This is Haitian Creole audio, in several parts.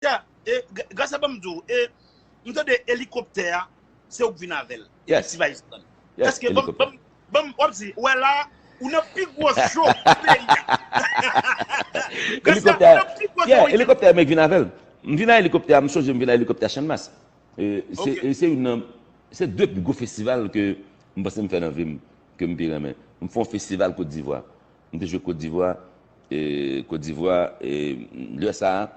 Yeah, e Gracia banm di w, e m tande elikoptè a se ou k vin avè l epi Yes, T-vice pran l. yes, Eske banm elikoptè. banm banm wap di ou wè la a, ou nan pi gwo show peyi a. Gracia, Elikoptè ou a, nan pi gwo show yeah, week-end. elikoptè a men k vin avè l. M vin a elikoptè a, m sonje m vin a elikoptè a Channmas. E se Ok. e se youn nan se 2 pi gwo festival ke m panse m fè nan vi m ke m pi renmen. M fè yon festival Cote d'Ivoire. M te jwe Kotdivwa, Kotdivwa, lè sa a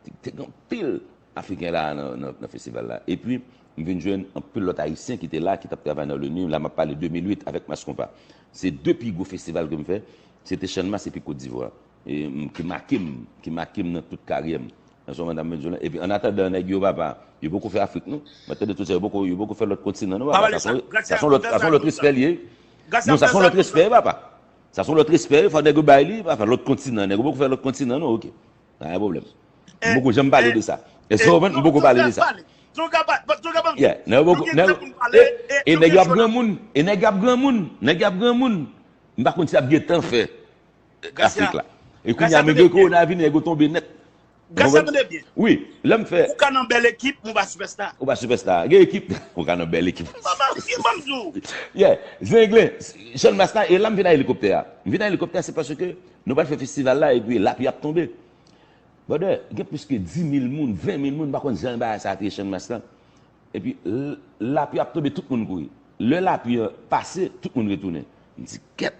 te gen anpil Afriken la a nan festival la. Epi m vin jwenn anpil lòt Ayisyen ki te la a ki t ap travay nan Loni, la m ap pale 2008 avèk Masskonpa. Se 2 pi gwo festival ke m fè, se te Channmas epi Kotdivwa ki make m, ki make m nan tout karyè m. Epi annatandan nèg yo papa, yo poko fè Afrik non. M ap tande tout sa, yo poko fè lòt kontinan non papa, sa son lòt respè li ye. Non sa son lòt respè papa. Sa son lòt respè fò nèg yo bay li, pa fè lòt kontinan, nèg yo poko fè lòt kontinan non ok. Pa gen pwoblèm. M poko janm pale de sa. Èske ou konprann? M poko pale de sa. Yeah, nèg yo poko, nèg yo, e nèg yo ap granmoun, e nèg yo ap granmoun, nèg yo ap granmoun. M pa konn sa y ap gen tan fè Afrik la. E kounye a menm gen kowona vini nèg yo tonbe nèt. Gad sa tande byen. Wi lèm fè. Ou ka nan bèl ekip men ou pa sipèsta. Ou pa sipèsta. Gen ekip ou ka nan bèl ekip. Mpa marye banm di w. Yeah zenglen Sean Master e la m vin a elikoptè a. M vin a elikoptè a se paske nou pral fè festival la epi lapli ap tonbe. Brother gen plis ke 10000 moun, 20000 moun m pa konn jan bagay sa te ye Sean Master epi lapli ap tonbe tout moun kouri. Lè lapli an pase tout moun retounen. M di kèt.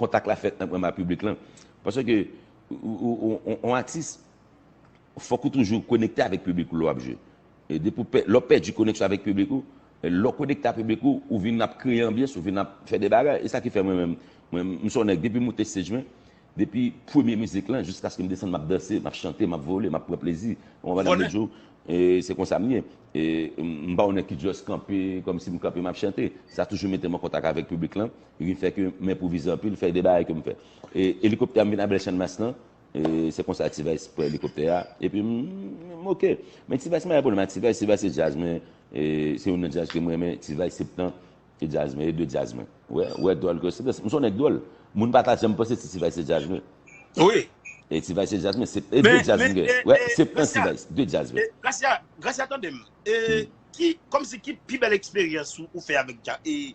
Kontak la fèt nan premwa piblik lan. Paske ke yon atis fòk ou toujou konekte avèk piblik ou lè wap jwe. Depi w pè, lè w pèdi koneksyon avèk piblik ou, lè w konekte ak piblik ou, ou vin ap kreye anbyans, ou vin ap fè de bagay. E sa ki fè mwen menm, mwen m son nèg depi m moute stage mwen, depi premye mizik lan jiskaske m desann map danse, map chante, map vole, map pran plezi. Ou konprann Amedeo? Vole. E se konsa m ye. E m pa yon nèg ki just kanpe kòmsi m kanpe map chante. Sa toujou mete m an kontak avèk piblik lan Li vin fè ke m enpwovize anpil, fè de bagay ke m fè. E elikoptè a m vin abèl Channmas lan, e se konsa T-Vice pran elikoptè a, epi m m oke. Men T-Vice m pa gen pwoblèm ak T-Vice, T-Vice se djaz mwen, e se youn nan djaz ke m renmen, T-Vice se ptan e djaz mwen, e de djaz mwen. Ou wè, ou wè dwòl ke se djaz, m se yon nèg dwòl. Moun pa ta janm panse se T-Vice se djaz mwen. Wi. E T-Vice se djaz mwen, se e de djaz m gen. Ou wè, se ptan T-Vice, de djaz mwen. Gracia, Gracia tande m, e ki, kòmsi ki pi bèl eksperyans ou fè avèk dja, e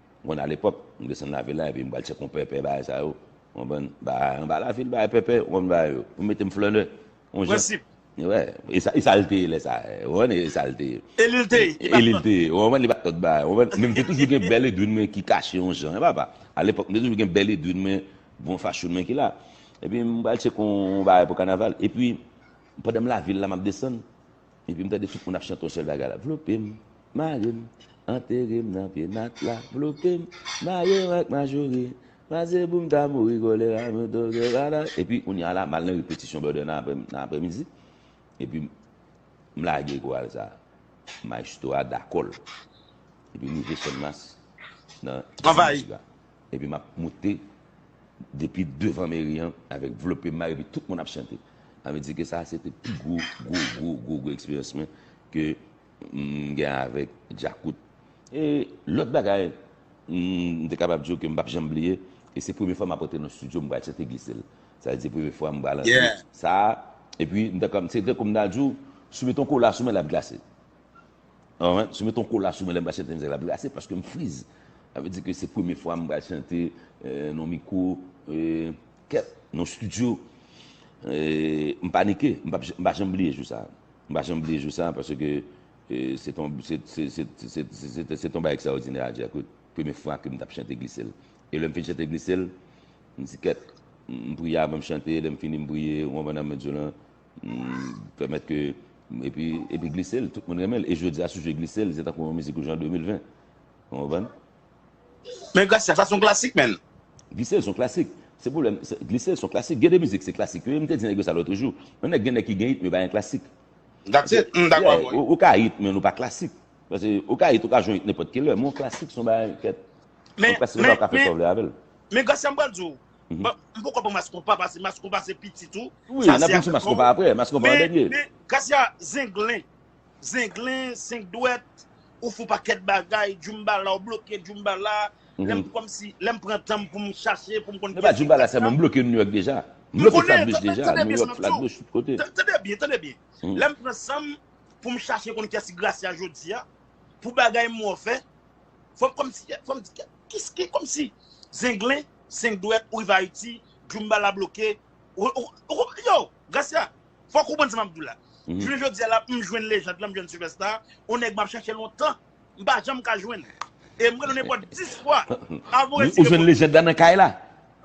M konn ale pwòp, m desann lave la epi m pral chè konpè pè bagay sa yo, ou konprann, bagay anba lavil, bagay pèpè, ou konprann bagay yo, pou mete m flannè, on jan. Prensip. Wè, e sa, e sa l te ye lè sa a, ou konprann, e sa l te ye. E li l te ye, li pa t nan. E li l te ye, ou konprann, li pa t lòt bagay, ou konprann, men m te toujou gen bèl Edwin mwen ki kache on jan, e papa, alepòk m te toujou gen bèl Edwin mwen, bon fachoun mwen ki la. Epi m pral chè kon bagay pou kanaval, epi pandan m lave l la m ap desann, Epi m tande tout moun ap chante yon sèl bagay la, Vlope m, mare m, antere m nan pye matla, vlope m, mare m ak majori, pase pou m ta mouri kolera m yo toke vada. Epi kounye a la, m al nan repetisyon bèdè nan aprèmidi, epi m lage koral sa a. Mayestwo a dakò l. Epi m rive Sènmas nan dimanch la. Epi map moute depi devan meri an avèk vlope may epi tout moun ap chante. Sa vle di ke sa a se te pi gwo, gwo, gwo, gwo, gwo eksperyans mwen ke m gen avèk Djakout. E lòt bagay m te kapab di w ke m pap janm bliye, e se premye fwa m apote l nan studio, m pral chante glise l. Sa vle di premye fwa m pral antre sa a, epi m ta, se tankou m ta di w, si w mete yon kola sou men l ap glase. Alright, sou met yon kola sou mwen lè m pral chante mizèk la pou yo ase paske m friz. Sa vle di ke se premye fwa m pral chante nan yon mikwo kèt, nan yon studio. M panike, m pa janm bliye jou sa a. M pa janm bliye jou sa a paske se te yon bagay ekstraòdinè a Djakout. Premye fwa ke m tap chante Glise l. E lè m fin chante Glise l, m di kèt, m priye avan m chante, lè m fini m priye, ou konprann nan Mèt Djo lan. Pèmèt ke epi epi glise l, tout moun renmen l e jodi a si w jwe glise l se tankou yon mizik ou jwe an 2020. Ou konprann? Men Gracia sa son klasik menn. Glise l son klasik. Se pwoblèm, glise l son klasik. Gen de mizik se klasik yo, m te di nèg yo sa lòtre jou. Yon nèg gen nèg ki gen it men yo pa gen klasik. That's it, m dakò avè w wi. Ou ka it men nou pa klasik. Paske ou ka it, ou ka jwe yon it nenpòt ki lè men yon klasik son bagay kèt. Yon klasik ou ka fè sa w vle avè l. Men Gracia m pral di w, Bon, m poko pran mas konpa pase mas konpa se pitit ou. Wi, n ap vin sou mas konpa apre, mas konpa an dènye. Men, Kasia, zenglen, zenglen, senk dwèt, ou fon pakèt bagay, djoumbala, ou bloke djoumbala, lè m kòm si, lè m pran tan m pou m chache, pou m konn kiyès ki Kasia. Epa djoumbala sèlman, m bloke New York deja. M bloke Flatbush deja, New York, Flatbush, tout kote. Tande byen, tande byen. Lè m pran san m pou m chache konn kiyès ki Gracia jodi a, pou bagay m wè w fè. Fòm kòm si fòm di kè kis ki kòm si zenglen senk dwèt ou rive ayiti djoumba la bloke yo gracia fòk ou konprann sa map diw la jounen jodia la m jwenn lejand lan m jwenn sipèsta on nèg map chèche lontan m pa janm ka jwenn e m rele w nenpòt 10 fwa avan ou retire ou jwenn lejand lan nan kay la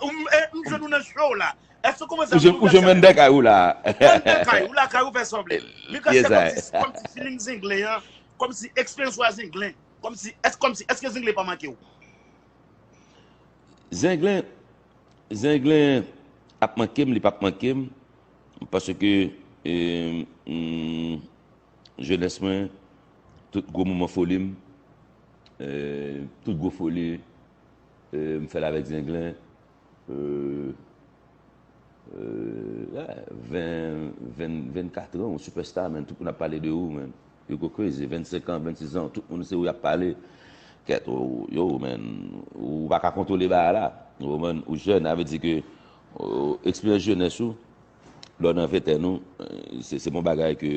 m jwenn ou nan show la èske ou konprann sa m diw la ou jwenn m anndan kay ou la anndan kay ou lakay ou fè sa w vle men gracia fòm ti feeling zenglen an kòm si eksperyans ou a zenglen. Kòmsi, èske kòmsi, èske Zenglen pa manke w? Zenglen, Zenglen ap manke m, li pap manke m, paske jenès mwen, tout gwo moman foli m, tout gwo foli m fè l avèk Zenglen, 20, 20, 24 an ou sipèsta man, tout moun ap pale de ou man. Hugo crazy 25 ans 26 ans tout moun se ou yap pale kèt yow man ou paka kontwole bagay la yow man ou jèn avè di ke eksperyans jenès ou lè w nan ventèn ou se bon bagay ke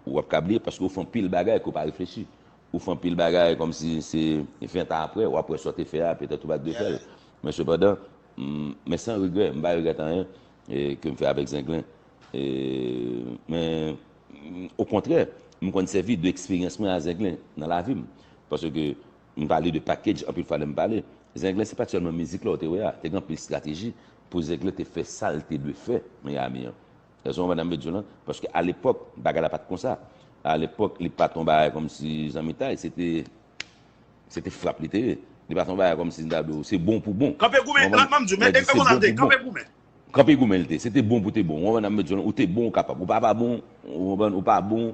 ou pap ka bliye paske ou fè anpil bagay ke ou pa reflechi ou fè anpil bagay kòm si se 20 ans aprè wap wè sa w te fè a petèt ou pat dwe fèl men sepandan men san regrè m pa regrèt anyen ke m fè avèk zenglen men. Okontrè, m konn sèvi de eksperyans mwen a Zenglen nan lavi m. Paske m pale de package anpil fwa lè m pale. Zenglen se pa t sèlman mizik la ou te wè a. Te gen anpil estrateji pou Zenglen te fè sa l te dwe fè Miami an. Rezon an madanm yo di w lan, paske alepòk bagay la pa t konsa. Alepòk li pa t yon bagay kòmsi zanmitay. Se te se te frap li te ye. Li pa t yon bagay kòmsi m ta di w se bon pou bon. Kanpe goumen, m ap di w men, e konsa l te ye, kanpe goumen. Kanpe goumen l te. Se te bon pou te bon. Ou konprann nan m met di w lan? Ou te bon ou kapab. Ou pa pa bon, ou konprann, ou pa bon,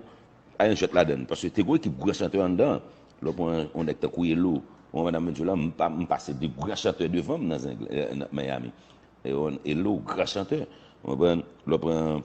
pa gen jwèt ladann. Paske te gon ekip gran chantè anndan an. Lè w pran yon nèg tankou Elo, ou konprann nan m met di w lan? M pase 2 gran chantè devan m nan Zenglen, nan Miami. Elo, gran chantè. Ou konprann? Lè w pran.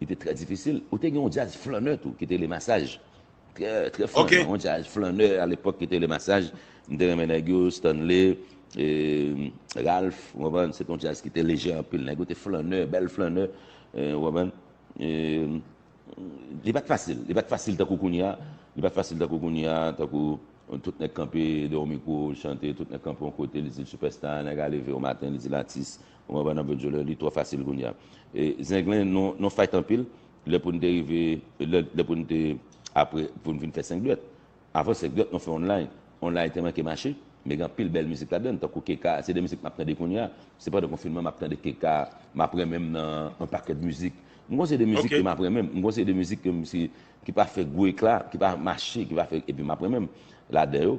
Li te trè difisil. Ou te gen yon djaz flannè tou ki te rele Masaj. Trè, trè flannan. Yon djaz flannè alepòk ki te rele Masaj. M te renmen nèg yo, Stanley, Ralph, ou konprann. Se te yon djaz ki te lejè anpil. Nèg yo te flannè, bèl flannè, ou konprann. Li pa t fasil. Li pa t fasil tankou kounye a. Li pa t fasil tankou kounye a, tankou tout nèg kanpe dèyè yon mikwo, l chante, tout nèg kanpe yon kote, li di l sipèsta, nèg a leve yon maten, li di l atis, Mwen wè nap jwe djolè li twò fasil kounya e zenglen nou fight anpil lè poun te rive lè poun te apre poun vin fè 5 dwèt avan 5 dwèt nou fè on lay on lay te manke mache men gen anpil bèl mizik ladann tankou KK se 2 mizik map tande kounya se pandan konfinman map tande KK map renmenm nan on pakèt mizik m gon seri de mizik ke map renmenm m gon seri de mizik ke m si ki pa fè gwo ekla ki pa mache ki pa fè epi map renmenm ladan yo.